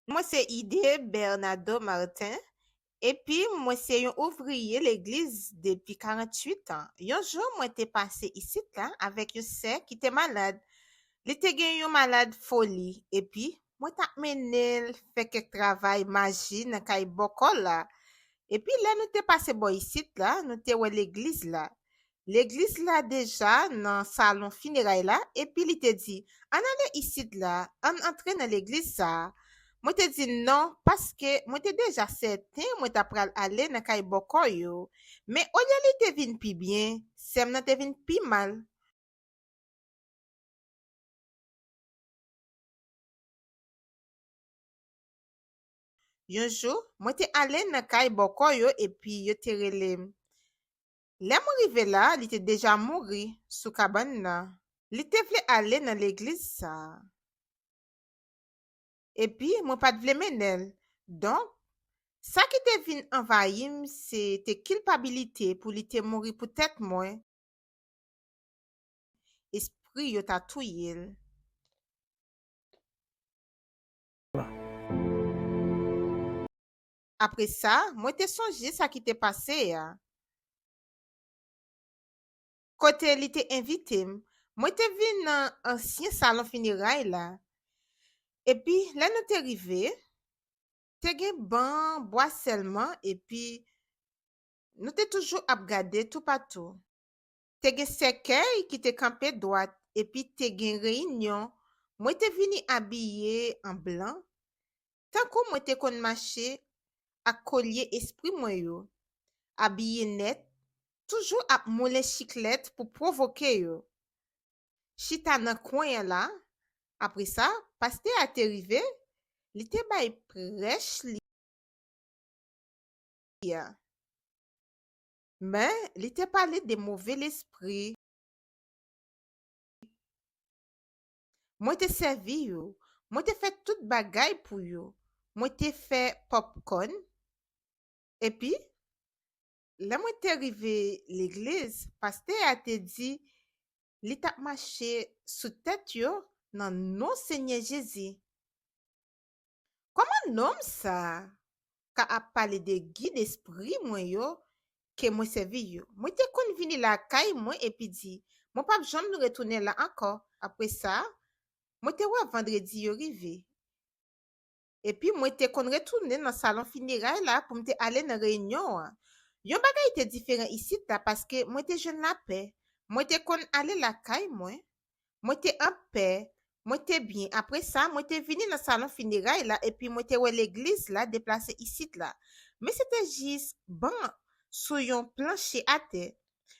Mwen se Ide Bernado Martin, epi mwen se yon ouvriye Legliz depi 48 an. Yon jou mwen te pase isit la avèk yon sè ki te malad. Li te gen yon malad foli, epi mwen t ap mennen l fè kèk travay maji nan kay bòkò la. Epi lè nou te pase bò isit la, nou te wè Legliz la. legliz la deja nan salon fineray la epi li te di, Ann ale isit la, ann antre nan legliz sa a. Mwen te di non paske mwen te deja sèten mwen t apral ale nan kay bòkò yo. Men olye li te vin pi byen, sè m nan te vin pi mal. Yon jou, mwen te ale nan kay bòkò yo epi yo te rele m. Lè mwen rive la, li te deja mouri sou kabann nan. Li te vle ale nan legliz sa a. Epi mwen pa t vle mennen l. Donk, sa ki te vin anvayi m se te kilpabilite pou li te mouri poutèt mwen, espri yo ta touye l. Apre sa, mwen te sonje sa ki te pase a. Kote li te envite m, mwen te vin nan ansyen salon fineray la. Epi, lè nou te rive, te gen ban bwa sèlman epi nou te toujou ap gade toupatou. te gen sèkèy ki te kanpe dwat epi te gen reyinyon, mwen te vini abiye an blan, tankou mwen te konn mache ak kolye espri mwen yo, abiye nèt, toujou ap moulen chiklèt pou pwovoke yo. Chita nan kwen an la, apre sa, pastè a te rive, li te bay prèch li a. Men, li te pale de move lespri. Mwen te sèvi yo. Mwen te fè tout bagay pou yo. Mwen te fè popcorn. Epi, lè mwen te rive legliz, pastè a te di li t ap mache sou tèt yo nan non Senyè Jezi. Kòman nonm sa ka ap pale de gid espri mwen yo ke mwen sèvi yo? Mwen te konn vini lakay mwen epi di, Mwen pap janm retounen la ankò. Apre sa, mwen te wè Vandredi yo rive. Epi mwen te konn retounen nan salon fineray la pou m te ale nan reyinyon an. Yon bagay te diferan isit la paske mwen te jwenn lapè. Mwen te konn ale lakay mwen Mwen te an pè, mwen te byen. Apre sa, mwen te vini nan salon fineray la epi mwen te wè legliz la deplase isit la. Men se te jis ban sou yon planche atè,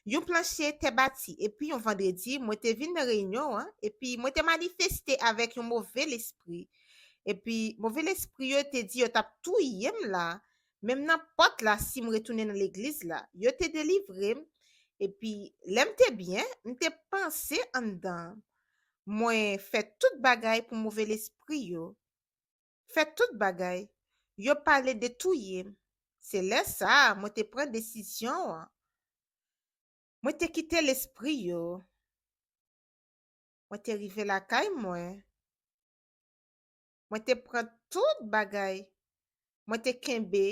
yon planche tè bati. Epi yon vandredi, mwen te vin nan reyinyon an, epi mwen te manifeste avèk yon move lespri. Epi move lespri yo te di yo t ap touye m la, menm nan pòt la si m retounen nan legliz la. Yo te delivre m, epi lè m te byen, m te panse anndan mwen fè tout bagay pou move lespri yo fè tout bagay. Yo pale de touye m. Se lè sa a mwen te pran desizyon an. Mwen te kite lespri yo. Mwen te rive lakay mwen. Mwen te pran tout bagay Mwen te kenbe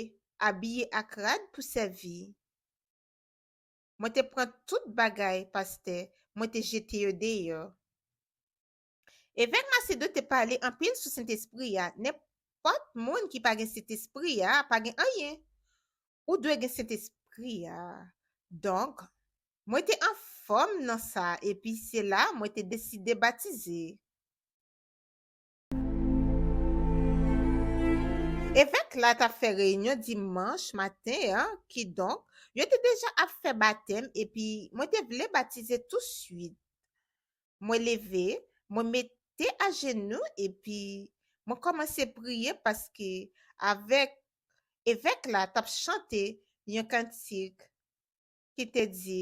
abiye ak rad pou sèvi Mwen te pran tout bagay pastè Mwen te jete yo deyò Evèk Macedo te pale anpil sou Sentespri a Nenpòt moun ki pa gen Sentespri a pa gen anyen Ou dwe gen Sentespri a Donk Mwen te anfòm nan sa epi se la Mwen te deside batize. Evèk la t ap fè reyinyon dimanch maten an, kidonk, yo te deja ap fè batèm epi mwen te vle batize tousuit. Mwen leve, mwen mete ajenou epi mwen kòmanse priye paske avèk evèk la t ap chante yon kantik ki te di.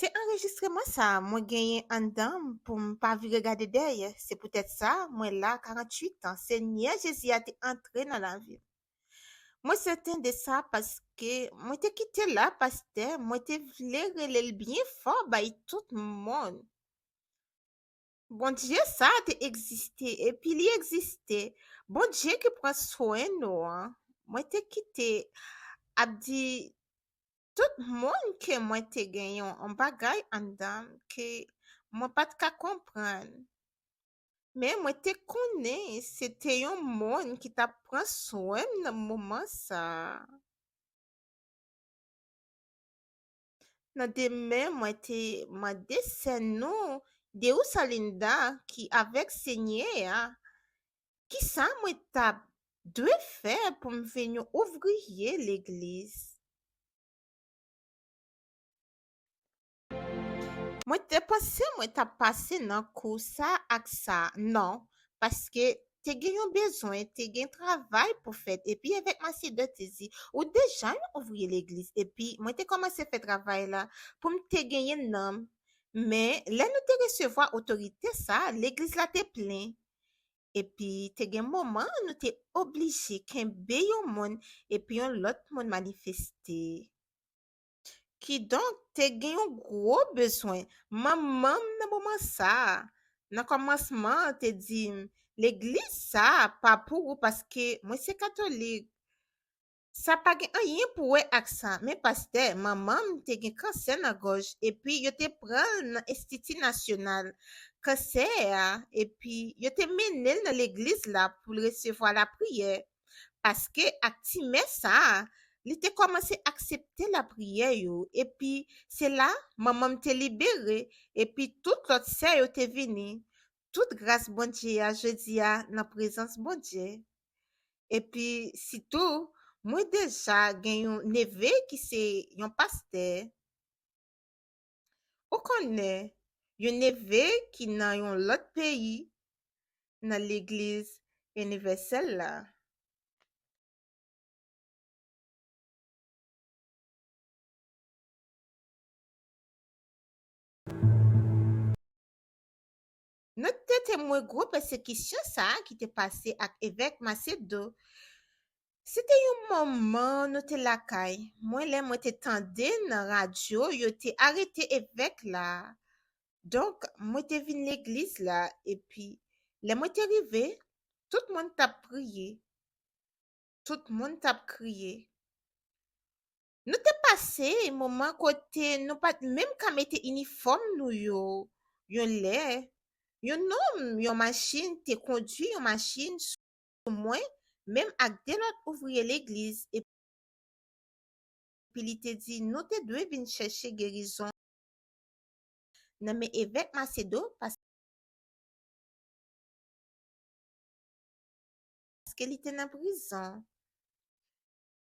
Se anrejistreman sa mwen genyen anndan m pou m pa vire gade dèyè. Se poutèt sa mwen la 48 an. Senyè Jezi a te antre nan lavi m. Mwen sèten de sa paske mwen te kite l la, pastè, mwen te vle rele l byen fò bay tout moun. Bondye sa a te egziste epi li egziste. Bondye ki pran swen nou an. Mwen te kite ap di tout moun ke mwen te gen yon bagay anndan m ke mwen pa t ka konprann. Men mwen te konnen se te yon moun ki t ap pran swen m nan moman sa a. Nan demen mwen te mande sè nou Deussalinda ki avèk Senyè a kisa mwen t ap dwe fè pou m vin yon ouvriye legliz. Mwen te panse mwen t ap pase nan kou sa ak sa, non, paske te gen yon bezwen, te gen travay pou fèt, epi Evèk Macedon te di, ou deja yon ouvriye Legliz, epi mwen te kòmanse fè travay la, pou m te genyen nanm. Men, lè nou te resevwa otorite sa a, Legliz la te plen. Epi, te gen moman nou te oblije kenbe yon moun, epi yon lòt moun manifeste. Kidonk, te gen yon gwo bezwen. Manman m nan moman sa a, nan kòmansman an, te di m, Legliz sa a pa pou ou paske mwen se katolik. Sa pa gen anyen pou wè ak sa, men pastè manman m te gen kansè nan gòj epi yo te pran l nan Enstiti Nasyonal Kansè a epi yo te mennen l nan legliz la pou l resevwa lapriyè. paske ak ti mè sa a, li te kòmanse aksepte lapriyè yo, epi se la manman m te libere, epi tout lòt sè yo te vini, tout gras Bondye a jodi a nan prezans Bondye. Epi sitou, mwen deja gen yon neve ki se yon pastè. Ou konnen, yon neve ki nan yon lòt peyi, nan Legliz Inivèsèl la. Nou te temwen gwo pèsekisyon sa a ki te pase ak evèk Macedo. Se te yon moman nou te lakay mwen lè mwen te tande nan radyo yo te arete evèk la. Donk, mwen te vin legliz la, epi, lè mwen te rive, tout moun t ap priye. Tout moun t ap kriye. Nou te pase moman kote nou pa t menm ka mete inifòm nou yo. Yon lè, yon nonm yon machin te kondui yon machin sou mwen menm ak de lòt ouvriye legliz epi li te di nou te dwe vin chèche gerizon nan men Evèk Macedo paske li te nan prizon.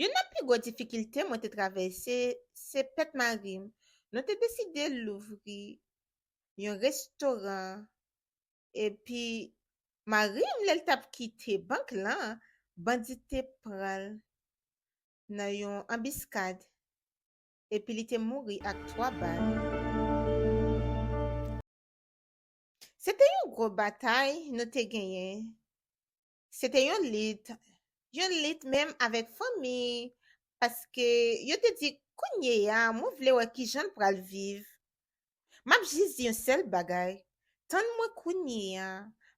Youn nan pi gwo difikilte mwen te travèse se pèt mari m. Nou te deside louvri yon restoran epi mari m lè l t ap kite bank lan, bandi te pran l nan yon anbiskad epi li te mouri ak 3 bal. Se te yon gwo batay nou te genyen Se te yon lit, yon lit menm avèk fanmi, paske yo te di, Kounye a, mwen vle wè ki jan l pral viv. M ap jis di yon sèl bagay, Tann mwen kounye a,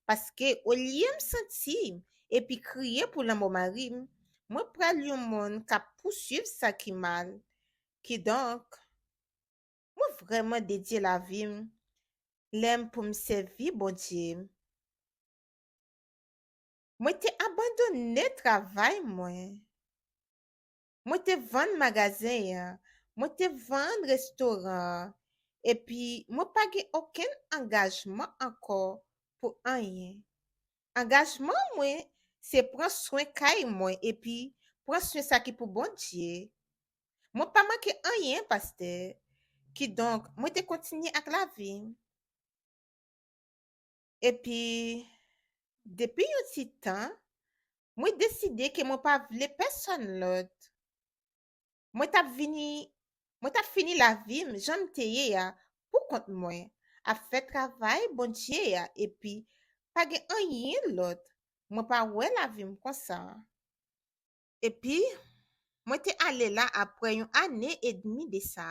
paske olye m santi m epi kriye pou lanmò mari m, mwen pral yon moun k ap pousuiv sa ki mal. Kidonk, mwen vrèman dedye lavi m lè m pou m sèvi Bondye m. Mwen te abandone travay mwen. Mwen te vann magazen an, mwen te vann restoran an, epi mwen pa gen okenn angajman ankò pou anyen. Angajman mwen se pran swen kay mwen epi pran swen sa ki pou Bondye. Mwen pa manke anyen, pastè. Kidonk, mwen te kontinye ak lavi m. Epi, depi yon ti tan, mwen deside ke mwen pa vle pèsonn lòt. Mwen t'ap vini, mwen t'ap fini lavi m' jan m' te ye a pou kont mwen, ap fè travay Bondye a epi pa gen anyen lòt, mwen pa wè lavi m' konsa. Epi, mwen te ale la apre yon ane edmi de sa.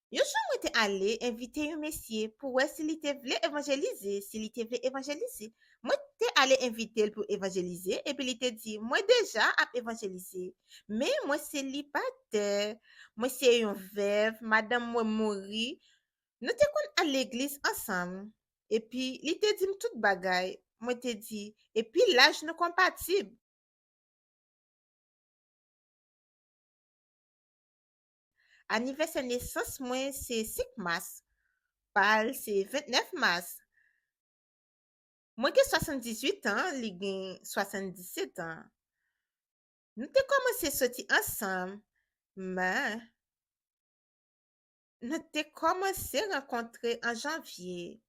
Yon jou mwen te ale envite yon mesye pou wè si li te vle evanjelize, si li te vle evanjelize. Mwen te ale envite l pou evanjelize, epi li te di, Mwen deja ap evanjelize. Men, mwen selibatè. Mwen se yon vèv, madanm mwen mouri. Nou te konn al legliz ansanm. Epi, li te di m tout bagay. Mwen te di, Epi laj nou konpatib. Anivèsè nesans mwen se 5 mas, pa l se 29 mas. Mwen gen 78 an, li gen 77 an. Nou te kòmanse soti ansanm, men, nou te kòmanse rankontre an janvye,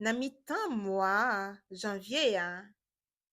nan mitan mwa janvye a.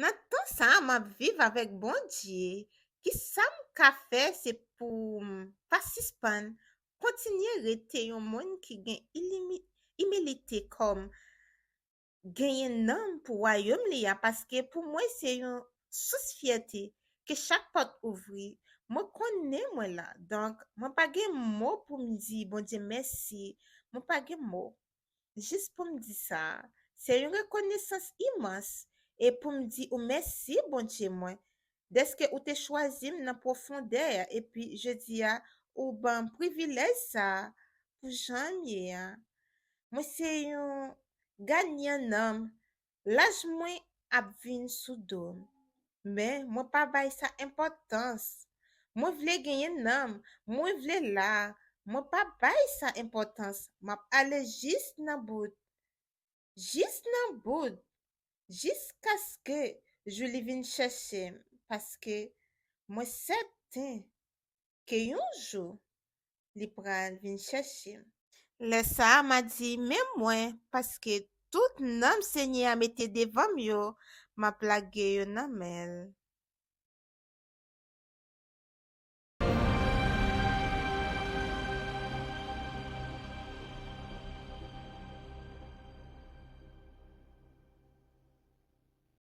Nan tan sa a m ap viv avèk Bondye, kisa m ka fè se pou m pa sispann kontinye rete yon moun ki gen imilite kòm genyen nanm pou Wayòm li a paske pou mwen se yon sous fyète ke chak pòt ouvri mwen konnen mwen la donk mwen pa gen mo pou m di Bondye mèsi mwen pa gen mo jis pou m di sa a, se yon rekonesans imans e pou m di ou mèsi, Bondye mwen, dèske ou te chwazi m nan pwofondè a epi jodi a ou ban m privilèj sa a pou jan m ye a. Mwen se yon ganyan nanm Laj mwen ap vin sou do m, men mwen pa bay sa enpòtans. Mwen vle genyen nanm, mwen vle la, mwen pa bay sa enpòtans m ap ale jis nan bout, jis nan bout, jiskaske jou li vin chèche m paske mwen sèten ke yon jou li pral vin chèche m. Lè sa a, m a di, Men mwen, paske tout nanm Senyè a mete devan m yo, m ap lage yo nan men l.